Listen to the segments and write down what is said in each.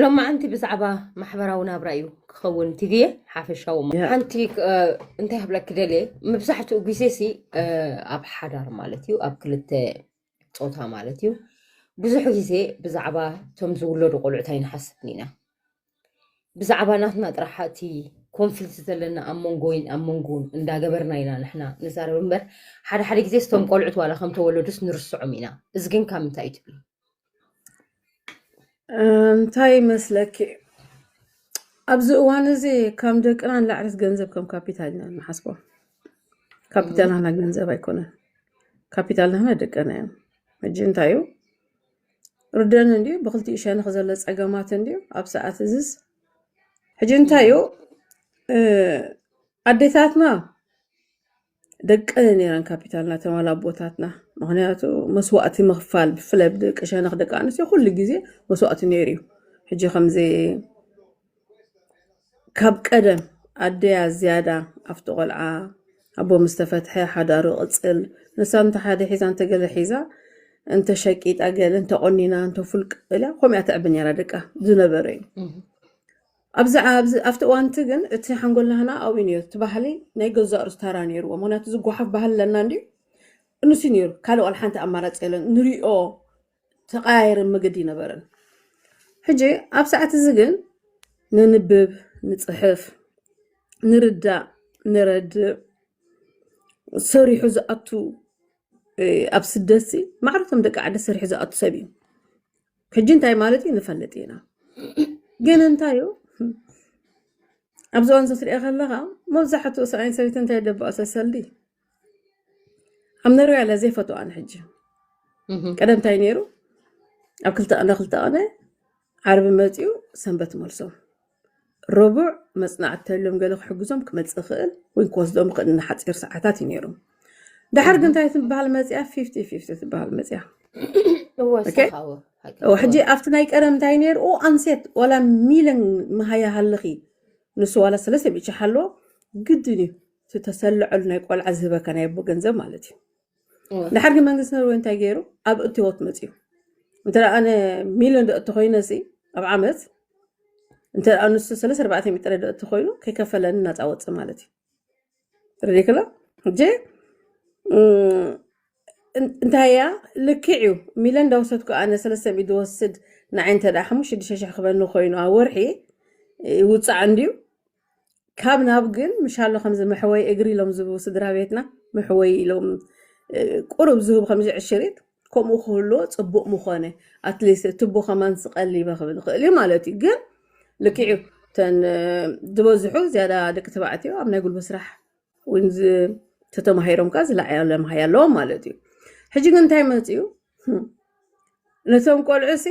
ሎማዓንቲ ብዛዕባ ማሕበራዊ ናብራ እዩ ክኸውን ቲቪየ ሓፈሻዊ ሓንቲ እንታይ ክብለኪ ደልየ መብዛሕትኡ ግዜ ሲ ኣብ ሓዳር ማለት እዩ ኣብ ክልተ ፆታ ማለት እዩ ብዙሕ ግዜ ብዛዕባ እቶም ዝውለዱ ቆልዑት ኣይንሓስብን ኢና ብዛዕባ ናትና ጥራሕ እቲ ኮንፍልት ዘለና ኣብ መንጎይን ኣብ መንጎን እንዳገበርና ኢና ንሕና ንዛረብ እምበር ሓደ ሓደ ግዜ ስቶም ቆልዑት ዋላ ከም ተወለዱስ ንርስዖም ኢና እዚ ግን ካብ ምንታይ እዩ ትብሉ እንታይ ይመስለኪ ኣብዚ እዋን እዚ ከም ደቅና ንላዕለት ገንዘብ ከም ካፒታል ኢና ንሓስቦ ካፒታል ናህና ገንዘብ ኣይኮነን ካፒታል ናህና ደቅና እዮም ሕጂ እንታይ እዩ ርደን እንዲዩ ብክልቲኡ ሸነኽ ዘሎ ፀገማት እንዲዩ ኣብ ሰዓት እዝስ ሕጂ እንታይ እዩ እ፣ ኣዴታትና ደቀ ነይረን ካፒታልና ተማል ኣቦታትና ምክንያቱ መስዋእቲ ምክፋል ብፍላይ ብደቂ ሸነክ ደቂ ኣንስትዮ ኩሉ ግዜ መስዋእቲ ነይሩ እዩ ሕጂ ከምዚ ካብ ቀደም ኣደያ ዝያዳ ኣብቲ ቆልዓ ኣቦ ምስ ተፈትሐ ሓዳሩ ቅፅል ንሳ እንተ ሓደ ሒዛ እንተ ገለ ሒዛ እንተ ሸቂጣ ገለ እንተ ቆኒና እንተ ፍልቅ ኢላ ከምኡ እያ ተዕቢ ነይራ ደቃ ዝነበረ እዩ ኣብዛ ኣብዚ ኣብቲ እዋንቲ ግን እቲ ሓንጎልና ህና ኣብኡ ነይሩ እቲ ባህሊ ናይ ገዛእ ርእሱ ታራ ነይርዎ ምክንያቱ ዝጓሓፍ ባህሊ ኣለና እንድዩ እንሱ ነይሩ ካልእ ዋላ ሓንቲ ኣማራጺ የለን ንሪኦ ተቀያየርን መገዲ ነበረን ሕጂ ኣብ ሰዓት እዚ ግን ነንብብ ንጽሕፍ ንርዳእ ንረድእ ሰሪሑ ዝኣቱ ኣብ ስደት ሲ ማዕረቶም ደቂ ዓዲ ሰሪሑ ዝኣቱ ሰብ እዩ ሕጂ እንታይ ማለት እዩ ንፈልጥ ኢና ግን እንታይ እዩ ኣብዚ እዋን ዘትሪኦ ከለኻ መብዛሕትኡ ሰብኣይን ሰበይቲ እንታይ ደበኦ ሰሰልዲ ኣብ ነርያ ለ ዘይፈትዋ ንሕጂ ቀደም እንታይ ነይሩ ኣብ ክልተ ቅነ ክልተ ቅነ ዓርቢ መፅኡ ሰንበት መልሶም ረቡዕ መጽናዕቲ ተልዮም ገለ ክሕግዞም ክመጽእ ይኽእል ወይ ክወስዶም ይኽእል ንሓጺር ሰዓታት እዩ ነይሩ ድሓር ግን እንታይ ትበሃል መጽያ ፊፍቲ ፊፍቲ ትበሃል መጽያ ኦኬ ሕጂ ኣብቲ ናይ ቀደም እንታይ ነይሩ ኦ ኣንሴት ዋላ ሚለን መሃያ ሃለኺ ንሱ ዋላ ሰለስተ ሚእቲ ሓለዎ ግድን እዩ እቲ ተሰልዐሉ ናይ ቆልዓ ዝህበካ ናይ ኣቦ ገንዘብ ማለት እዩ እወ ድሓር ግን መንግስቲ ኖርወይ እንታይ ገይሩ ኣብ እትወት መፅዩ እንተ ኣነ ሚሊዮን ዶ እተኮይነ ሲ ኣብ ዓመት እንተ ንሱ ስለ ኣርባዕተ ሚእቲ ጥረ ዶ እተኮይኑ ከይከፈለኒ ናፃ ወፅ ማለት እዩ ረዲክላ እጀ እንታይ እያ ልክዕ እዩ ሚሊዮን ዳወሰድኩ ኣነ ሰለስተ ሚእቲ ዝወስድ ንዓይ እንተ ሓሙሽተ ሽዱሽተ ሽሕ ክበኒ ኮይኑ ኣብ ወርሒ ይውፃዕ እንድዩ ካብ ናብ ግን ምሻሎ ከምዚ መሕወይ እግሪ ኢሎም ዝህቡ ስድራ ቤትና መሕወይ ኢሎም ቁሩብ ዝህቡ ከምዚ ዕሽሪት ከምኡ ክህልዎ ጽቡቕ ምኾነ ኣትሊስት ትቡ ከማን ስቀሊበ ክብል ይኽእል እዩ ማለት እዩ ግን ልክዕ እዩ እተን ዝበዝሑ ዝያዳ ደቂ ተባዕትዮ ኣብ ናይ ጉልበት ስራሕ እውን ተተማሂሮም ከዓ ዝለዓለ መሃያ ኣለዎም ማለት እዩ ሕጂ ግን እንታይ መፅኡ ነቶም ቆልዑ ሲ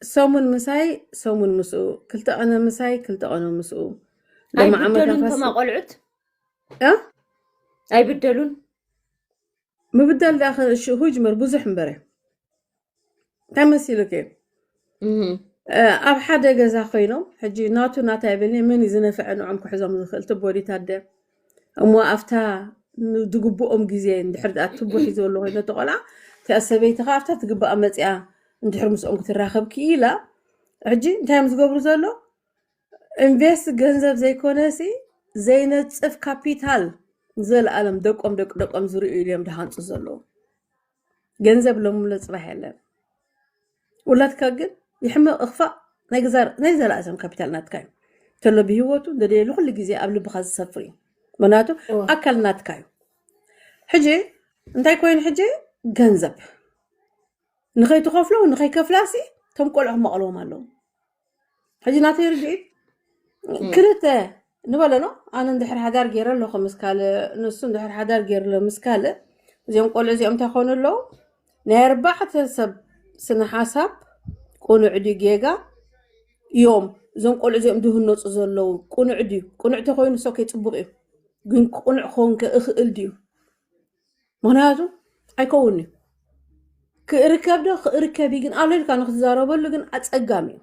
ሰሙን ምሳይ ሰሙን ምስኡ ክልተ ቀነ ምሳይ ክልተ ቀነ ምስኡ ሎሚ ዓመት ኣይብደሉን ኣፋስ ከማ ቆልዑት እ? ኣይብደሉን ምብዳል ዳኸ ሽሁ ይጅመር ብዙሕ እምበረ እንታይ መሲሉኪ እህ። እ፣ ኣብ ሓደ ገዛ ኮይኖም ሕጂ ናቱ ናታ ይብልኒ መን እዩ ዝነፍዐ ንዖም ክሕዞም ዝኽእል ትቦዲት ኣደ እሞ ኣብታ ን- ዝግብኦም ግዜ እንድሕር ድኣ ትቦ ሒዘሉ ኮይኑ እቲ ቆልዓ እቲኣ ሰበይቲ ከዓ ኣብታ ትግባኣ መፂኣ እንድሕር ምስኦም ክትራኸብ ክኢላ ሕጂ እንታይ እዮም ዝገብሩ ዘሎ ኢንቨስት ገንዘብ ዘይኮነሲ ዘይነፅፍ ካፒታል ንዘለኣለም ደቆም ደቂ ደቆም ዝርእዩ እዮም ዝሃንፁ ዘለዉ ገንዘብ ለምሎ ፅባሕ የለን ውላድካ ግን ይሕመቕ እኽፋእ ናይ ገዛ- ናይ ዘላእሰም ካፒታል ናትካ እዩ ተሎ ብሂወቱ ደደየ ንኩሉ ግዜ ኣብ ልብኻ ዝሰፍር እዩ ምክንያቱ እወ ኣካል ናትካ እዩ ሕጂ እንታይ ኮይኑ ሕጂ ገንዘብ ንኸይትኸፍሎ ንኸይከፍላሲ እቶም ቆልዑ ክማቕልዎም ኣለዎም ሕጂ ናተይ ርድኢት እ፣ ክልተ ንበለሎ ኣነ እንድሕር ሓዳር ገይረ ኣለኹ ምስ ካልእ ንሱ እንድሕር ሓዳር ገይሩ ኣሎ ምስ ካልእ እዚኦም ቆልዑ እዚኦም እንታይ ኮኑ ኣለዉ ናይ ኣርባዕተ ሰብ ስነ ሓሳብ ቅኑዕ ድዩ ጌጋ እዮም እዞም ቆልዑ እዚኦም ዝህነፁ ዘለዉ ቅኑዕ ድዩ ቅኑዕ ተኮይኑ ሰከ ፅቡቅ እዩ ግን ቅኑዕ ክኸውን ከ እኽእል ድዩ ምክንያቱ ኣይከውን እዩ ክእርከብ ዶ ክእርከብ እዩ ግን ኣሎ ኢልካ ንክትዛረበሉ ግን ኣፀጋሚ እዩ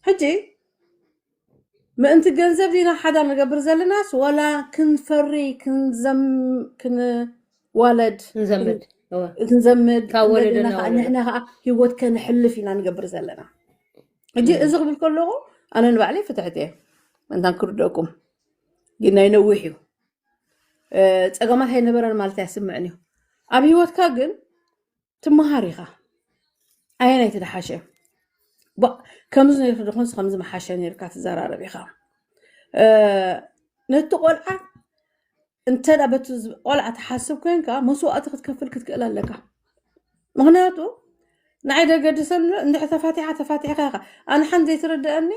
ሕጂ ምእንቲ ገንዘብ ዲና ሓዳር ንገብር ዘለናስ ወላ ክንፈሪ ክንዘም- ክንዋለድ ክንዘምድ እወ ክንዘምድ ካብ ወለዶ እንደገና ናብ ከዓ ወለዶ ንሕና ከዓ ሂወት ከነሕልፍ ኢና ንገብር ዘለና ሕጂ እዚ ክብል ከለኹ ኣነ ንባዕለይ ፍትሕቲ እየ እንታን ክርደኩም ግን ናይ ነዊሕ እዩ ፀገማት ኣይነበረን ማለት ኣይስምዕን እዩ ኣብ ሂወትካ ግን ትመሃር ኢኻ ኣየናይ ትደሓሸ ከምዚ ነርክ ድኾንስ ከምዚ መሓሸ ነርካ ትዘራረብ ኢኻ ነቲ ቆልዓ እንተ በቲ ቆልዓ ትሓስብ ኮንካ መስዋእቲ ክትከፍል ክትክእል ኣለካ ምክንያቱ ንዓይ ደገድሰሉ እንድሕር ተፋቲሓ ተፋቲሕካ ኢኻ ኣነ ሓን ዘይትርድኣኒ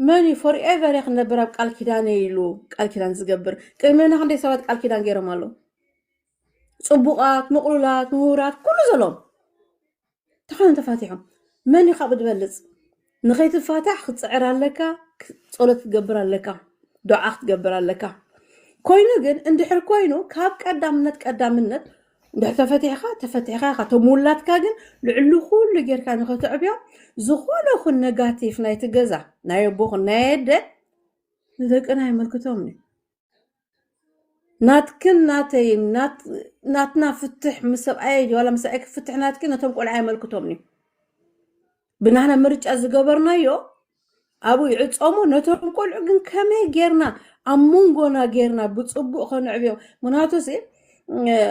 መን እዩ ፎር ኤቨር እየ ክነብር ኣብ ቃል ኪዳነ ኢሉ ቃል ኪዳን ዝገብር ቅድሜና ክንደይ ሰባት ቃል ኪዳን ገይሮም ኣለዉ ፅቡቃት ምቕሉላት ምሁራት ኩሉ ዘለዎም ተኾነ ተፋቲሖም መን እዩ ካብኡ ዝበልፅ ንኸይትፋታሕ ክትፅዕር ኣለካ ፀሎት ክትገብር ኣለካ ዱዓ ክትገብር ኣለካ ኮይኑ ግን እንድሕር ኮይኑ ካብ ቀዳምነት ቀዳምነት እንድሕር ተፈቲሕካ ተፈቲሕካ ኢኻ እቶም ውላድካ ግን ልዕሊ ኩሉ ጌርካ ንኸተዕብዮ ዝኾነ ኹን ነጋቲፍ ናይቲ ገዛ ናይ ኣቦኹን ናይ ኣደ ንደቅና የመልክቶም እዩ ናትክን ናተይን ናትና ፍትሕ ምስ ሰብኣየ ዋላ ምስ ሰብኣይኪ ፍትሕ ናትኪ ነቶም ቆልዓ የመልክቶምን እዩ ብናህና ምርጫ ዝገበርናዮ ኣብኡ ይዕፀሙ ነቶም ቆልዑ ግን ከመይ ጌርና ኣብ መንጎና ጌርና ብፅቡቅ ከነዕብዮም ምክንያቱ ሲ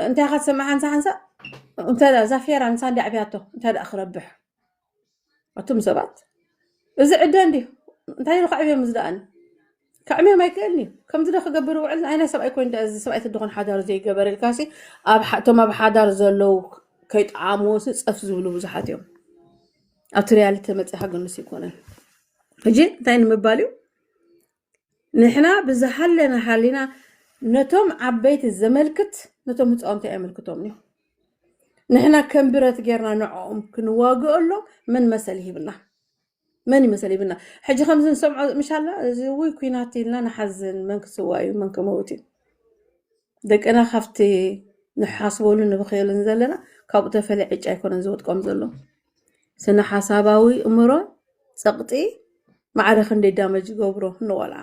እንታይ ካ ትሰምዕ ሓንሳ ሓንሳ እንተ እዛ ፌራ ንሳ እንዲ ኣዕብያቶ እንታይ ደኣ ክረብሕ ኣቱም ሰባት እዚ ዕደ እንዲ እንታይ ኢሉ ከዕብዮም ዝደኣኒ ከዕምዮም ኣይክእልኒ ከምዚ ዶ ክገብር ውዕል ናይ ናይ ሰብኣይ ኮይን እዚ ሰብኣይ ትድኾን ሓዳር ዘይገበር ኢልካሲ ኣብ ሓ- እቶም ኣብ ሓዳር ዘለው ከይጠዓምዎሲ ፀፍ ዝብሉ ብዙሓት እዮም ኣብቲ ሪያሊቲ መፅኻ ግንስ ይኮነን ሕጂ እንታይ ንምባል እዩ ንሕና ብዝሃለና ሃሊና ነቶም ዓበይቲ ዘመልክት ነቶም ህጻውንቲ ኣየመልክቶምን እዩ። ንሕና ከም ብረት ጌርና ንዕኦም ክንዋግኦሎም መን መሰል ይህብና? መን ይመሰል ይህብና? ሕጂ ከምዚ ንሰምዖ ምሻላ እዚ ውይ ኩናት ኢልና ንሓዝን መን ክስዋ እዩ መን ክመውት እዩ? ደቅና ካብቲ ንሓስበሉን ንብክየሉን ዘለና ካብኡ ተፈልየ ዕጫ ኣይኮነን ዝወድቆም ዘሎ። ስነሓሳባዊ እምሮ ጸቕጢ ማዕረ ክንደይ ዳመጅ ይገብሮ ንቆልዓ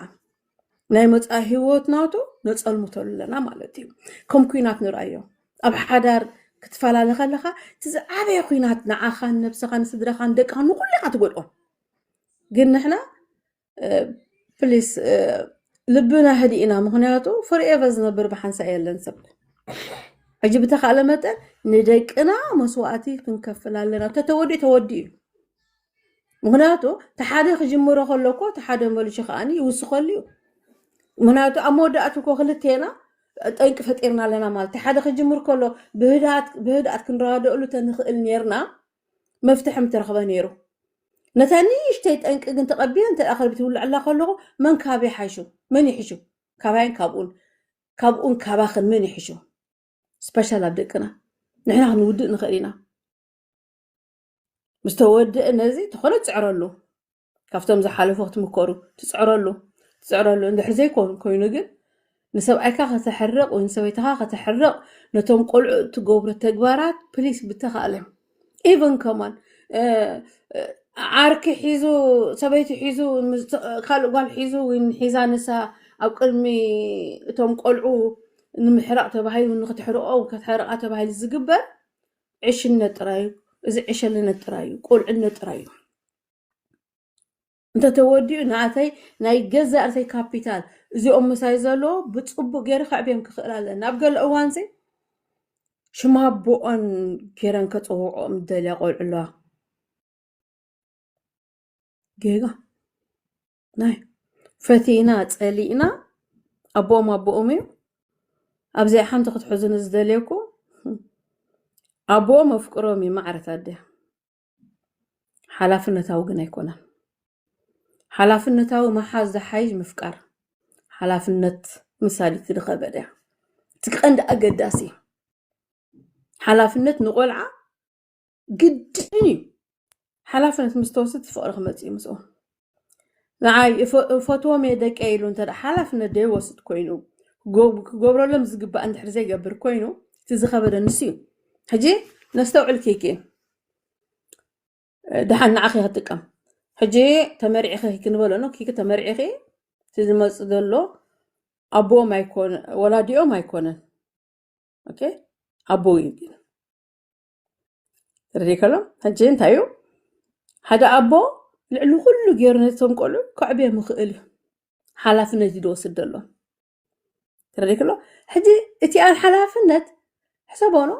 ናይ መጻኢ ህይወት ናቱ ነጸልምቶ ኣለና ማለት እዩ ከም ኩናት ንርኣዮ ኣብ ሓዳር ክትፈላለ ከለኻ እቲ ዝዓበየ ኩናት ንዓኻን ነብስኻን ስድራኻን ደቅኻን ንኩሉ ኢኻ ትጎድኦ ግን ንሕና ፕሊስ ልብና ህዲእና ምክንያቱ ፎርኤቨ ዝነብር ብሓንሳ የለን ሰብ ሕጂ ብተካእለ መጠን ንደቅና መስዋእቲ ክንከፍል ኣለና ተተወዲኡ ተወዲኡ እዩ ምክንያቱ ተሓደ ክጅምሮ ከለኮ ተሓደ መልሹ ከዓኒ ይውስከሉ እዩ ምክንያቱ ኣብ መወዳእቱ እኮ ክልቴና ጠንቂ ፈጢርና ኣለና ማለት እዩ ሓደ ክጅምር ከሎ ብህድኣት ብህድኣት ክንረዳደእሉ ተንኽእል ነርና መፍትሒ ምተረኽበ ነይሩ። ነታ ንእሽተይ ጠንቂ ግን ተቐቢለ እንተ ክርቢት ይውልዐላ ከለኹ መን ካበይ ሓይሹ? መን ይሕሹ? ካባይን ካብኡን ካብኡን ካባኽን መን ይሕሹ? ስፐሻል ኣብ ደቅና ንሕና ክንውድእ ንኽእል ኢና። ምስ ተወድእ ነዚ ተኾነ ጽዕረሉ ካብቶም ዝሓለፉ ክትምከሩ ትፅዕረሉ ትፅዕረሉ እንድሕር ዘይኮን ኮይኑ ግን ንሰብኣይካ ከተሕርቕ ወይ ንሰበይትኻ ከተሕርቕ ነቶም ቆልዑ እትገብሮ ተግባራት ፕሊስ ብተኻለ ኢቨን ከማን ዓርኪ ሒዙ ሰበይቲ ሒዙ ካልእ ጓል ሒዙ ወይ ሒዛ ንሳ ኣብ ቅድሚ እቶም ቆልዑ ንምሕራቕ ተባሂሉ ንክትሕርኦ ከተሕርቃ ተባሂሉ ዝግበር ዕሽነት ጥራዩ እዚ ዕሸልነት ጥራዩ ቆልዕነት ጥራዩ እንተተወዲኡ ንኣተይ ናይ ገዛእ ርእሰይ ካፒታል እዚኦም ምሳይ ዘለዎ ብፅቡቅ ገይረ ከዕብዮም ክኽእል ኣለኒ ኣብ ገለ እዋን ዘይ ሽማ ኣቦኦን ገይረን ከፀውዕኦም ደልያ ቆልዑ ኣለዋ ጌጋ ናይ ፈቲና ፀሊእና ኣቦኦም ኣቦኦም እዩ ኣብዚኣ ሓንቲ ክትሕዙኒ ዝደልየኩም ኣቦኦም ኣፍቅሮም እዩ ማዕረት ኣደ ሓላፍነታዊ ግን ኣይኮነን። ሓላፍነታዊ ምሓዝ ዝሓይሽ ምፍቃር ሓላፍነት ምሳድ እቲ ዝኸበደ እያ። እቲ ቀንዲ ኣገዳሲ ሓላፍነት ንቆልዓ ግድን እዩ። ሓላፍነት ምስ ተወስድ ፍቕሪ ክመፅእ እዩ ምስኡ። ንዓይ እፈ- እፈትዎም እየ ደቀይ ኢሉ እንተ ሓላፍነት ዘይወስድ ኮይኑ ክጎ- ክገብረሎም ዝግባእ እንድሕር ዘይገብር ኮይኑ እቲ ዝኸበደ ንሱ እዩ ሕጂ ነስተውዕል ኪኪ ድሓን ንዓኺ ክጥቀም ሕጂ ተመሪዕኺ ክንበሎ ኖ ኪኪ ተመሪዕኺ እቲ ዝመፅእ ዘሎ ኣቦኦም ኣይኮነ ወላዲኦም ኣይኮነን ኦኬ ኣቦ እዩ ግን ተረዲከሎ ሕጂ እንታይ እዩ ሓደ ኣቦ ልዕሊ ኩሉ ገይሩ ነቶም ቆልዑ ከዕብዮ ምኽእል እዩ ሓላፍነት እዩ ዝወስድ ዘሎ ተረዲከሎ ሕጂ እቲ ኣብ ሓላፍነት ሕሰቦኖ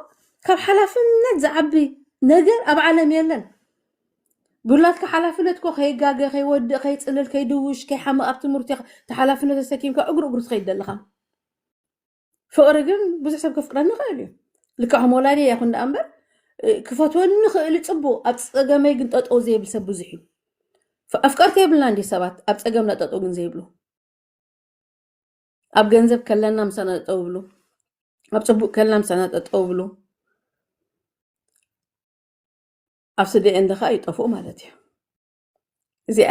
ካብ ሓላፍነት ዝዓቢ ነገር ኣብ ዓለም የለን ብላትካ ሓላፍነት ኮ ከይጋገ ከይወድእ ከይፅልል ከይድውሽ ከይሓምቕ ኣብ ትምህርቲ ተሓላፍነት ተሰኪምካ እግሩ እግሩ ትኸይድ ዘለኻ ፍቕሪ ግን ብዙሕ ሰብ ከፍቅረኒ ይኽእል እዩ ልክዕ ከም ወላዲየ ይኹን ደኣ እምበር እ፣ ክፈትወኒ ኽእል ፅቡቕ ኣብ ፀገመይ ግን ጠጠው ዘይብል ሰብ ብዙሕ እዩ ፍ- ኣፍቀርቲ የብልና እንዲ ሰባት ኣብ ፀገምና ጠጠው ግን ዘይብሉ ኣብ ገንዘብ ከለና ምሳና ጠጠው ይብሉ ኣብ ፅቡቅ ከለና ምሳና ጠጠው ይብሉ ኣብ ስደኤ እንደ ከዓ ይጠፍኡ ማለት እዩ እዚኣ